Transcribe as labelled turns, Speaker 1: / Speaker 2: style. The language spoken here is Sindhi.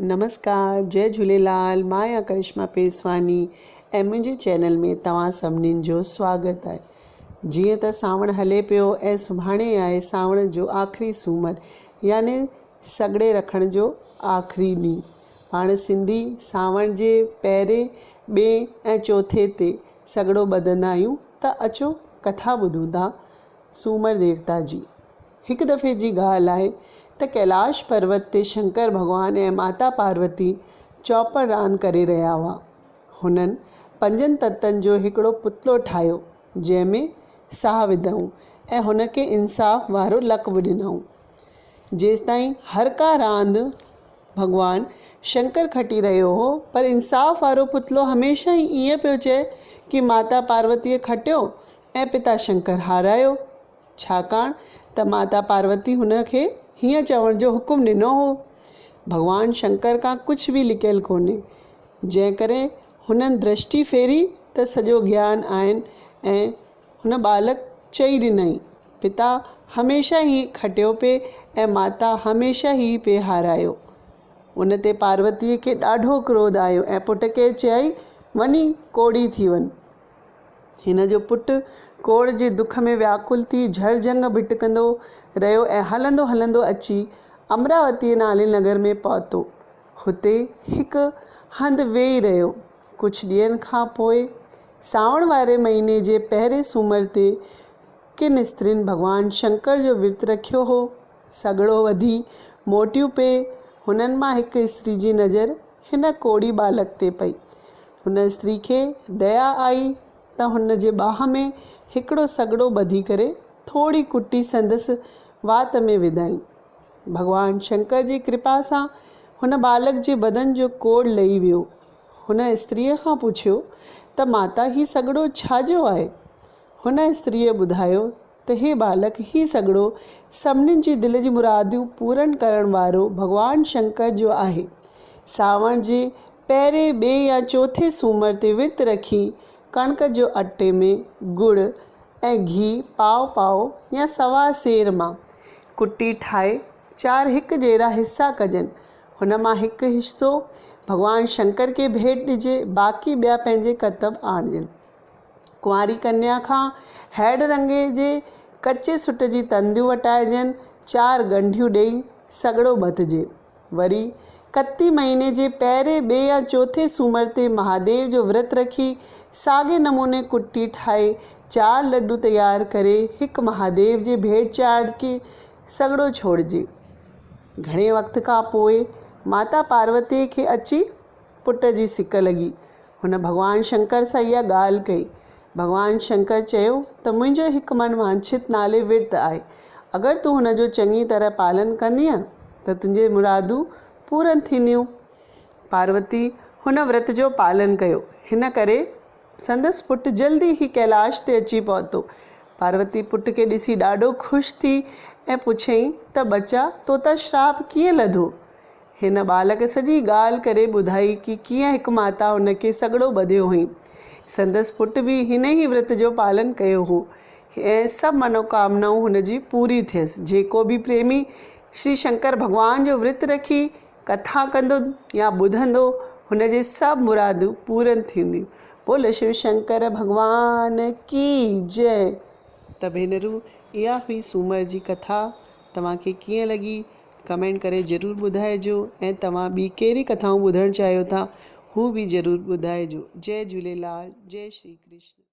Speaker 1: نمسڪار جئي جهوليلال مان آهيان ڪرشما پيسواني ۽ منهنجي چينل ۾ توهان سڀنين جو سواگت آهي جيئن ته سانوڻ هلي پيو ۽ سڀاڻي آهي سانوڻ جو آخري سومر يعني سڳڙي رکڻ جو آخري ڏينهن پاڻ سنڌي سانوڻ جي پهرين ٻئي ۽ چوٿين تي سڳڙو ٻڌندا آهيون ته اچو ڪٿا ٻڌون ٿا سومر ديوتا جي. هڪ دفعي جي ڳالهه آهي ته ڪيلاش پروت تي شنڪر ڀڳوان ۽ ماتا پاروتي چوپڙ راند ڪري رهيا هئا. هنن پنجن تتن جو هڪڙو پتلو ٺاهيو، جنهن ۾ ساهه وڌائون ۽ هن کي انصاف وارو لقب ڏنائون. جيستائين هر ڪا راند ڀڳوان شنڪر کٽي رهيو هو، پر انصاف وارو پتلو هميشه ئي ائين پيو چئي ڪي ماتا پاروتيء کٽيو ۽ پتا شنڪر هارايو. ڇاڪاڻ ته ماتا پاروتي هن کي هيئن چوڻ جو حڪم ڏنو هو، ڀڳوان شنڪر کان ڪجهه به لڪيل ڪونهي، جنهن ڪري هنن درشٽي ڦيري ته سڄو گيان آهن ۽ هن ٻالڪ چئي ڏنائين، پتا هميشه ئي کٽيو پئي ۽ ماتا هميشه ئي پئي هارايو. ان تي پاروتيء کي ڏاڍو ڪروڌ آيو ۽ پٽ کي چيائين، وڃي ڪوڙي ٿي وڃ، هن جو پٽ ڪوڙهه جي دک ۾ وياڪل ٿي جهر جهنگ ڀٽڪندو رهيو ۽ هلندو هلندو اچي امراوتيء نالي نگر ۾ پهتو. هتي هڪ هنڌ ويهي رهيو. ڪجهه ڏينهن کان پوء سانوڻ واري مهيني جي پهرين سومر تي ڪن استرين ڀڳوان شنڪر جو ورت رکيو هو. سگهڙو وڌي موٽيون پي هنن مان هڪ استري جي نظر هن ڪوڙهي ٻالڪ تي پئي. هن استري کي ديا آئي ته هن جي ٻانهن ۾ هڪڙو سڳڙو ٻڌي ڪري ٿوري ڪٽي سندس وات ۾ وڌائين. ڀڳوان شنڪر جي ڪرپا سان هن ٻالڪ جي بدن جو ڪوڙ لهي ويو. هن استريء کان پڇيو ته ماتا هي سڳڙو ڇا جو آهي؟ هن استريء ٻڌايو ته هي ٻالڪ، هي سڳڙو، سڀني جي دل جي مراديون پورن ڪرڻ وارو ڀڳوان شنڪر جو آهي. سانوڻ جي پهرين، ٻئي يا چوٿين سومر تي ورت رکي ڪڻڪ جو اٽي ۾ ڳڙ ۽ گيهه پاو پاو يا سوا سير مان ڪٽي ٺاهي چار هڪ جهڙا حصا ڪجن، هن مان هڪ حصو ڀڳوان شنڪر کي ڀيٽ ڏجي، باقي ٻيا پنهنجي ڪتب آڻجن. ڪنواري ڪنيا کان هيڊ رنگي جي ڪچي سٽ جي تنديون وٽائجن، چار ڳنڍيون ڏيئي سڳڙو ٻڌجي. وري ڪتي مهيني جي پهرين، ٻئي يا چوٿين سومر تي مهاديو جو ورت رکي، ساڳئي نموني ڪٽي ٺاهي، چار لڏو تيار ڪري هڪ مهاديو جي ڀيٽ چاڙهجي، سڳڙو ڇوڙجي. گهڻي وقت کان پوء ماتا پاروتيء کي اچي پٽ جي سڪ لڳي. هن ڀڳوان شنڪر سان اها ڳالهه ڪئي. ڀڳوان شنڪر چيو ته منهنجو هڪ من وانڇت نالي ورت آهي. اگر تون هن جو چڱي طرح پالن ڪندينء ته تنهنجي مرادون پورن ٿينديون. پاروتي هن ورت جو پالن ڪيو. هن ڪري سندس پٽ جلدي ئي ڪيلاش تي اچي پهتو. پاروتي پٽ کي ڏسي ڏاڍو خوش ٿي ۽ پڇيائين ته ٻچا تو تان شراپ ڪيئن لڌو؟ هن ٻال کي سڄي ڳالهه ڪري ٻڌائي ڪي ڪيئن هڪ ماتا هن کي سڳڙو ٻڌيو هئين. سندس پٽ به هن ئي ورت جو پالن ڪيو هو ۽ سڀ منوڪامنائون هن جي پوري ٿيس. جيڪو به پريمي شري شنڪر ڀڳوان جو ورت رکي ڪٿا ڪندو يا ٻڌندو هن جي سڀ مرادون پورن ٿينديون. بولو شو شنڪر ڀڳوان ڪي جئه. ته ڀينرون اها هئي سومر جي ڪٿا توهان کي ڪيئن لڳي ڪمينٽ ڪري ضرور ٻڌائجو ۽ توهان ٻي ڪهڙي ڪٿائون ٻڌڻ چاهيو ٿا هو به ضرور ٻڌائجو جئي جهوليلال جئي شري ڪرشن.